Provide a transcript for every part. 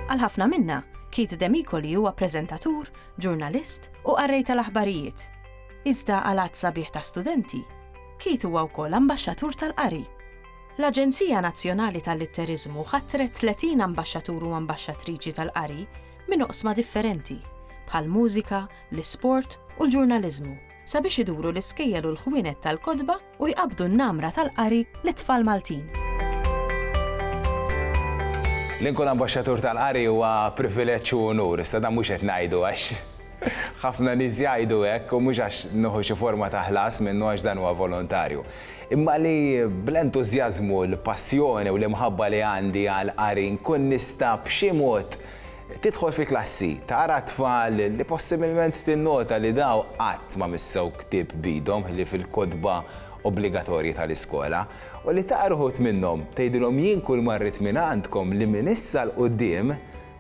Għal ħafna minna, Keith Demikoli huwa preżentatur, ġurnalist u qarrej tal-aħbarijiet. Iżda għal għadd sabiħ ta' studenti, Keith huwa wkoll ambaxxatur tal-qari. L-Aġenzija Nazzjonali tal-Litteriżmu ħatret 30 ambaxxatur u ambaxxatriċi tal-qari minn oqsma differenti, bħall-mużika, l-isport u l-ġurnaliżmu, sabiex iduru l-iskejjel u l-ħwienet tal-kotba u jqabbdu n-namra tal-qari lit-tfal Maltin. Li nkun ambaxxatur tal-qari huwa privileġġ u unur, iżda dan mhux qed ngħidu għax Ħafna nies jgħidu hekk, u mhux għax nieħu xi forma ta' ħlas minnu għax dan huwa volontarju, imma li bl-entużjażmu, l-passjoni u l-imħabba li għandi għall-qari nkun nista' b'xi mod tidħol fil-klassi, tara t-tfal li possibilment tinnota li daw qatt ma missew ktieb b'idhom ħlief il-kotba obbligatorji tal-iskola, u li tara uħud minnhom tgħidilhom jien kulma rrid minn għandkom li minn issa 'l quddiem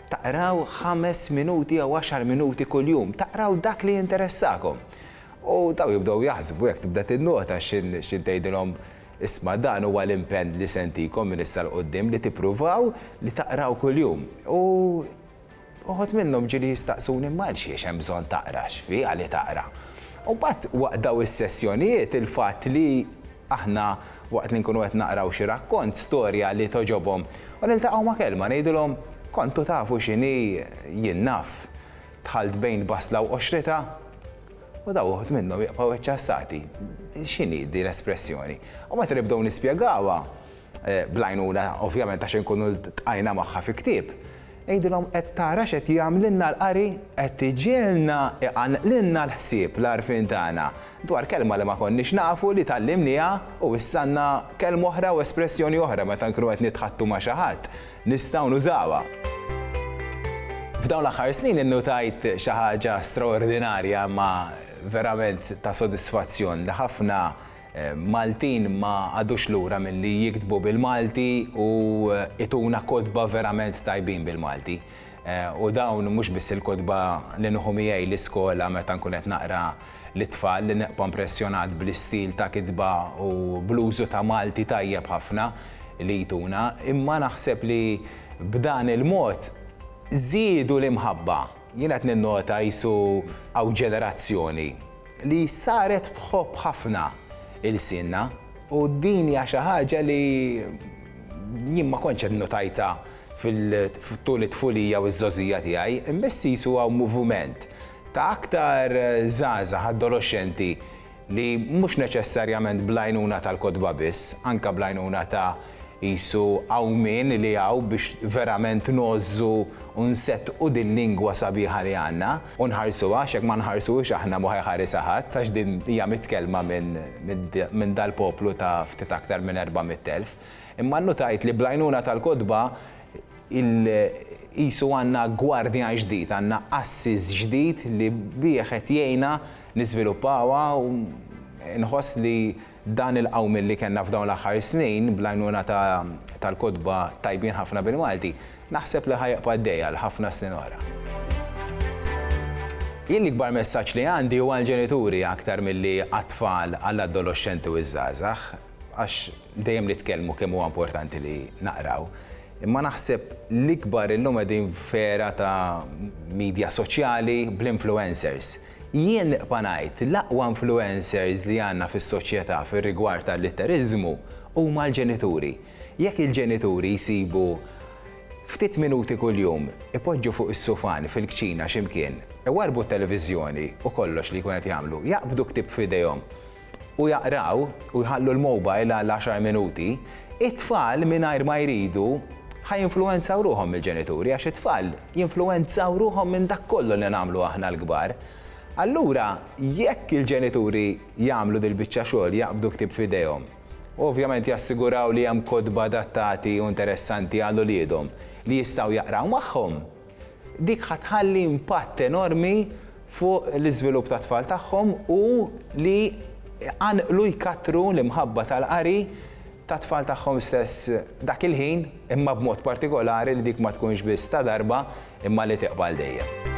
Taqraw ħames minuti jew għaxar minuti kuljum, taqraw dak li jinteressakom. U dawn jibdew jaħsbu jekk tibda tinnota x'inhi tgħidilhom, Isma' dan huwa l-impenn li se ntikom minn issa 'l quddiem li tippruvaw li taqraw kuljum. U uħud minnhom ġieli jistaqsuni, Imma għal xiex hemm bżonn taqra? X'fi għali taqra? U mbagħad waqt dawn is-sessjonijiet il-fatt li Aħna, waqt li nkunu qed naqraw xi rakkont, storja li togħġobhom, u niltaqgħu ma' kelma, ngħidulhom, Kontu tafu x'inhi? Jien naf. Dħalt bejn basla u qoxritha? U dawn uħud minnhom jibqgħu iċċassati. X'inhi din l-espressjoni? U meta nibdew nispjegawha, bl-għajnuna ovvjament għax inkunu ltqajna magħha fi ktieb, għidilhom qed tara x'qed jagħmlilna l-qari? Qed iġiegħlna iqanqlilna l-ħsieb, l-għarfien tagħna, dwar kelma li ma konniex nafu li tgħallimniha u issa għandna kelma oħra u espressjoni oħra meta nkunu qed nitħaddtu ma' xi ħadd, nistgħu nużawha. F'dawn l-aħħar snin innutajt xi ħaġa straordinarja imma verament ta' sodisfazzjon li ħafna Maltin ma qagħdux lura milli jiktbu bil-Malti u ituna kotba verament tajbin bil-Malti. U dawn mhux biss il-kotba li nieħu miegħi l-iskola meta nkun qed naqra lit-tfal li nibqa' mpressjonat bl-istil ta' kitba u bl-użu ta' Malti tajjeb ħafna li jtuna, imma naħseb li b'dan il-mod żiedu l-imħabba. Jien qed ninnota qisu hawn ġenerazzjoni li saret tħobb ħafna ilsienna u din hija xi ħaġa li jien ma kontx qed notajtha tul it-tfulija u ż-żgħożija tiegħi, imma issa qisu hawn muvument ta' aktar żgħażagħ adoloxxenti li mhux neċessarjament bl-għajnuna tal-kotba biss, anke bl-għajnuna ta' qisu għawmien li hawn biex verament ngħożżu u nseddqu dil-lingwa sabiħa li għandna u nħarsuha għax jekk ma nħarsuhiex aħna mhu ħajħarisha ħadd għax din hija mitkellma minn dal-poplu ta' ftit aktar minn erba' mitt elf. Imma nnutajt li bl-għajnuna tal-kotba qisu għandna gwardjan ġdid, għandna assis ġdid li bih qed jgħinna niżviluppawha u nħoss li dan il-qawmien li kellna f'dawn l-aħħar snin bl-għajnuna tal-kotba tajbin ħafna bil-Malti, naħseb li ħa jibqa' għaddej għal ħafna snin oħra. Jien l-ikbar messaġġ li għandi hu għall-ġenituri aktar milli għat-tfal, għall-adoloxxenti u ż-żgħażagħ, għax dejjem nitkellmu kemm huwa importanti li naqraw, imma naħseb l-ikbar illum qegħdin f'era ta' midja soċjali bl-influencers. Jien nibqa' ngħid, l-aqwa influencers li għandna fis-soċjetà fir-rigward tal-litteriżmu huma l-ġenituri. Jekk il-ġenituri jsibu ftit minuti kuljum, ipoġġu fuq is-sufan fil-kċina xi mkien, iwarrbu t-televiżjoni u kollox li jkun qed jagħmlu, jaqbdu ktieb f'idejhom, u jaqraw u jħallu l-mobile għal għaxar minuti, it-tfal mingħajr ma jridu ħa jinfluwenzaw ruħhom mill-ġenituri għax it-tfal jinfluwenzaw ruħhom minn dak kollu li nagħmlu aħna l-kbar. Allura jekk il-ġenituri jagħmlu dil-biċċa xogħol, jaqbdu ktieb f'idejhom, u ovvjament jassiguraw li hemm kotba adattati u interessanti għal uliedhom li jistgħu jaqraw magħhom, dik ħa tħalli impatt enormi fuq l-iżvilupp tat-tfal tagħhom u li jqanqlu jkattru l-imħabba tal-qari tat-tfal tagħhom stess dak il-ħin, imma b'mod partikolari li dik ma tkunx biss ta' darba imma li tibqa' għal dejjem.